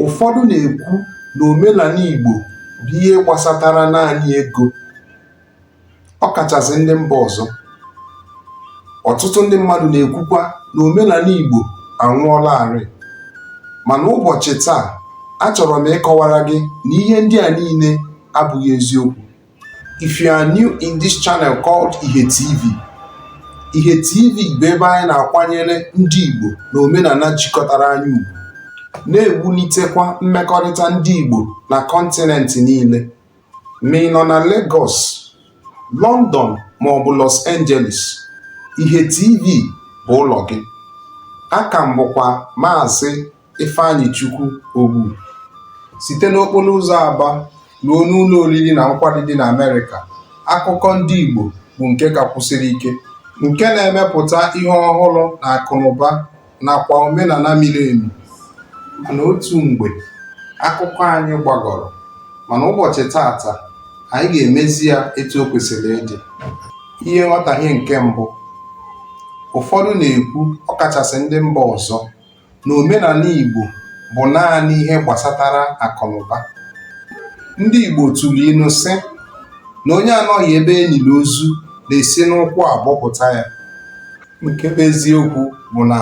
Ụfọdụ na-ekwu na omenala Igbo bụ ihe gbasatara naanị ego, ọ kachasị ndị mba ọzọ. Ọtụtụ ndị mmadụ na-ekwukwa na omenala Igbo anwụọlarị. Mana ụbọchị taa, achọrọ m ịkọwara gị na ihe ndị a niile abụghị eziokwu. If you are new in this channel called Ihe TV, Ihe TV bụ ebe anyị na-akwanyere ndị Igbo na omenala jikọtara anyị ugwu, na-ewulitekwa mmekọrịta ndị Igbo na kọntinent niile. Ma ị nọ na Lagos, London ma ọ bụ Los Angeles, Ihe TV bụ ụlọ gị. Aka m bụkwa Maazị Ifeanyichukwu Ogbu site n'okporo ụzọ Aba ruo n'ụlọ oriri na nkwari dị n'Amerịka, akụkọ ndị Igbo bụ nke ka kwụsiri ike, nke na-emepụta ihe ọhụrụ na akụnụba nakwa omenala miri emi. Mana otu mgbe, akụkọ anyị gbagọrọ, mana ụbọchị tata, anyị ga-emezi ya etu o kwesịrị ịdị. Ihe nghọtahie nke mbụ, ụfọdụ na-ekwu, ọkachasị ndị mba ọzọ, na omenala Igbo bụ naanị ihe gbasatara akụnụba. Ndị Igbo tụrụ ilu sị na onye anọghị ebe e liri ozu na-esi n'ụkwụ abọpụta ya. Nke bụ eziokwu bụ na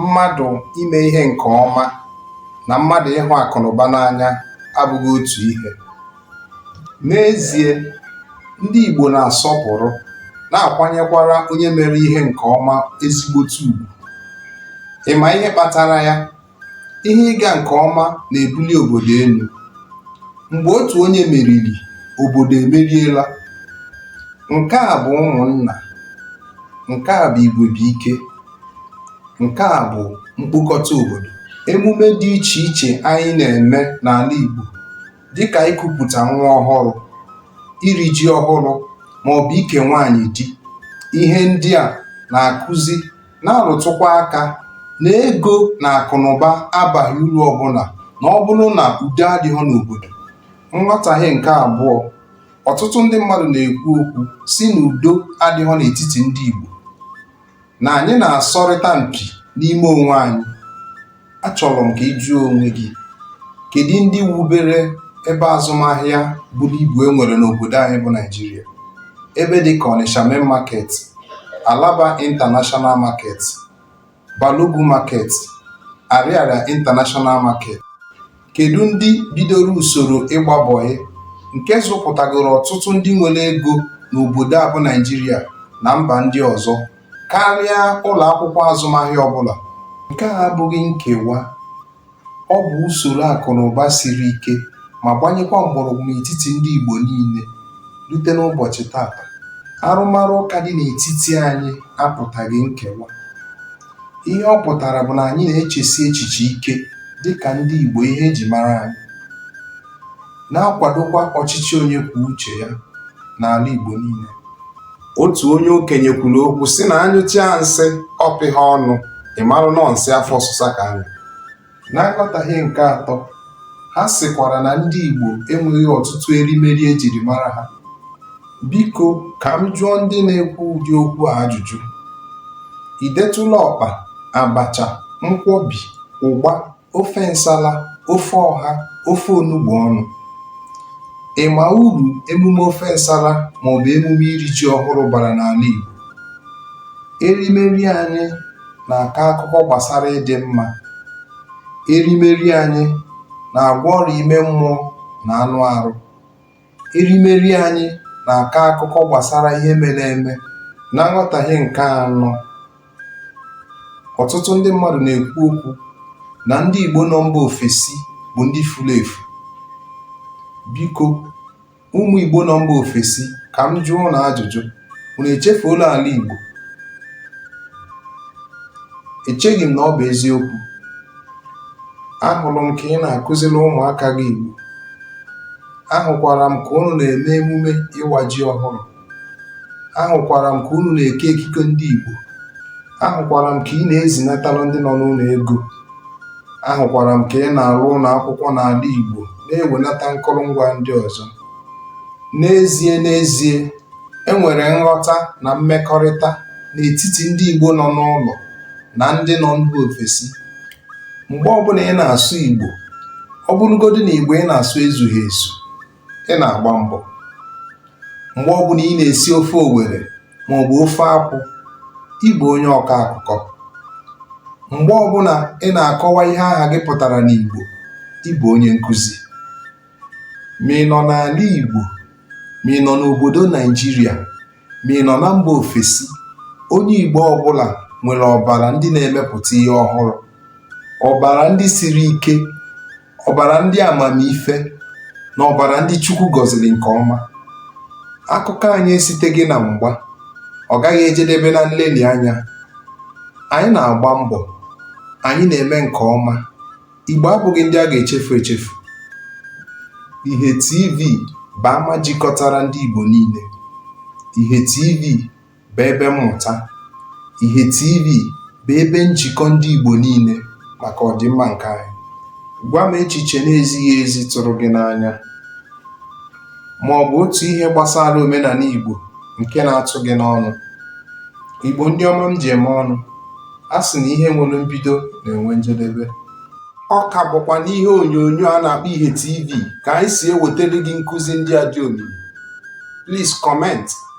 mmadụ ime ihe nke ọma na mmadụ ịhụ akụnụba n'anya abụghị otu ihe. N'ezie, ndị Igbo na-asọpụrụ, na-akwanyekwara onye mere ihe nke ọma ezigbote ugwu. Ị ma ihe kpatara ya? Ihe ịga nke ọma na-ebuli obodo elu. Mgbe otu onye meriri, obodo emeriela. Nke a bụ ụmụnna, nke a bụ igwe bụ ike, nke a bụ mkpokọta obodo. Emume dị iche iche anyị na-eme n'ala Igbo dịka ikupụta nwa ọhụrụ, iri ji ọhụrụ maọbụ ike nwaanyị di. Ihe ndị a na-akụzi na-arụtụkwa aka na ego na akụnụba abaghị uru ọbụla na ọ bụrụ na udo adịghị n'obodo. Nghọtahie nke abụọ, ọtụtụ ndị mmadụ na-ekwu okwu sị na udo adịghị n'etiti ndị Igbo. na anyị na-asọrịta mpi n'ime onwe anyị achọrọ m ka ị jụọ onwe gị kedu ndị wubere ebe azụmahịa buru ibu e nwere n'obodo anyị bụ Naịjirịa ebe dị ka Onitsha Main Market Alaba International Market Balogun Market Ariaria International Market Kedụ ndị bidoro usoro ịgba bọyị nke zụpụtagoro ọtụtụ ndị nwere ego n'obodo a bụ Naịjirịa na mba ndị ọzọ karịa ụlọ akwụkwọ azụmahịa ọbụla? Nke a abụghị nkewa, ọ bụ usoro akụ na ụba siri ike ma gbanyekwa mgbọrọgwụ n'etiti ndị Igbo niile rute n'ụbọchị tata. Arụmarụ ụka dị n'etiti anyị apụtaghị nkewa. Ihe ọ pụtara bụ na anyị na-echesi echiche ike dị ka ndị Igbo ihe e ji mara anyị, na-akwadokwa ọchịchị onye kwuo uche ya n'ala Igbo niile. Otu onye okenye kwuru okwu sị na a nyụchaa nsị ọ pịha ọnụ, ị marụ na ọọ nsị afọ ọsụsa ka a nyụ. Na nghọtahie nke atọ, ha sịkwara na ndị Igbo enweghị ọtụtụ erimeri e jiri mara ha. Biko ka m jụọ ndị na-ekwu ụdị okwu a ajụjụ. I detụla ọkpa, abacha, nkwọbi, ụgba, ofe nsala, ofe ọha, ofe onugbu ọnụ? Ị ma uru emume ofe nsala maọbụ emume iri ji ọhụrụ bara n'ala Igbo? Erimeri anyị na-akọ akụkọ gbasara ịdị mma, erimeri anyị na-agwọ ọrịa ime mmụọ na anụ arụ. Erimeri anyị na-akọ akụkọ gbasara ihe mere eme. Na nghọtahie nke anọ, ọtụtụ ndị mmadụ na-ekwu okwu na ndị Igbo nọ mba ofesi bụ ndị furu efu. Biko, Ụmụ Igbo nọ mba ofesi ka m jụọ ụnụ ajụjụ, unu echefuola ala Igbo? Echeghị m na ọ bụ eziokwu. Ahụrụ m ka ị na-akụziri ụmụaka gị Igbo. Ahụkwara m ka ụnụ na-eme emume ịwa ji ọhụrụ. ahụkwara m ka unu na-eke ekike ndị Igbo ahụkwara m ka ị na-ezinatalụ ndị nọ n'ụlọ ego ahụkwara m ka ị na-arụ ụlọ akwụkwọ n'ala Igbo na-ewenata nkụrụngwa ndị ọzọ n'ezie n'ezie e nwere nghọta na mmekọrịta n'etiti ndị Igbo nọ n'ụlọ na ndị nọ mba ofesi mgbe ọbụla ị na-asụ Igbo ọ bụrụgodị na Igbo ị na-asụ ezughị ezu ị na-agba mbọ mgbe ọbụla ị na-esi ofe Owere maọbụ ofe akwụ ị bụ onye ọkọ akụkọ mgbe ọbụla ị na-akọwa ihe aha gị pụtara n'Igbo ị bụ onye nkụzi ma ị nọ n'ala Igbo ma ị nọ n'obodo Naịjirịa ma ị nọ na mba ofesi onye Igbo ọbụla nwere ọbara ndị na-emepụta ihe ọhụrụ ọbara ndị siri ike ọbara ndị amamife na ọbara ndị Chukwu gọziri nke ọma akụkọ anyị esiteghị na mgba ọ gaghị ejedebe na nlelị anya anyị na-agba mbọ anyị na-eme nke ọma Igbo abụghị ndị a ga-echefu echefu Ihe TV bụ ama jikọtara ndị Igbo niile Ihe TV bụ ebe mmụta, Ihe TV bụ ebe njikọ ndị Igbo niile maka ọdịmma nke anyị. Gwa m echiche na-ezighị ezi tụrụ gị n'anya ma ọ bụ otu ihe gbasara omenala Igbo nke na-atụ gị n'ọnụ. Igbo ndị ọma m ji eme ọnụ, a sị na ihe nwere mbido na-enwe njedebe. Ọ ka bụkwa n'ihe onyonyo a na-akpọ Ihe TV ka anyị si ewetara gị nkụzi ndị a dị omimi. Please comment.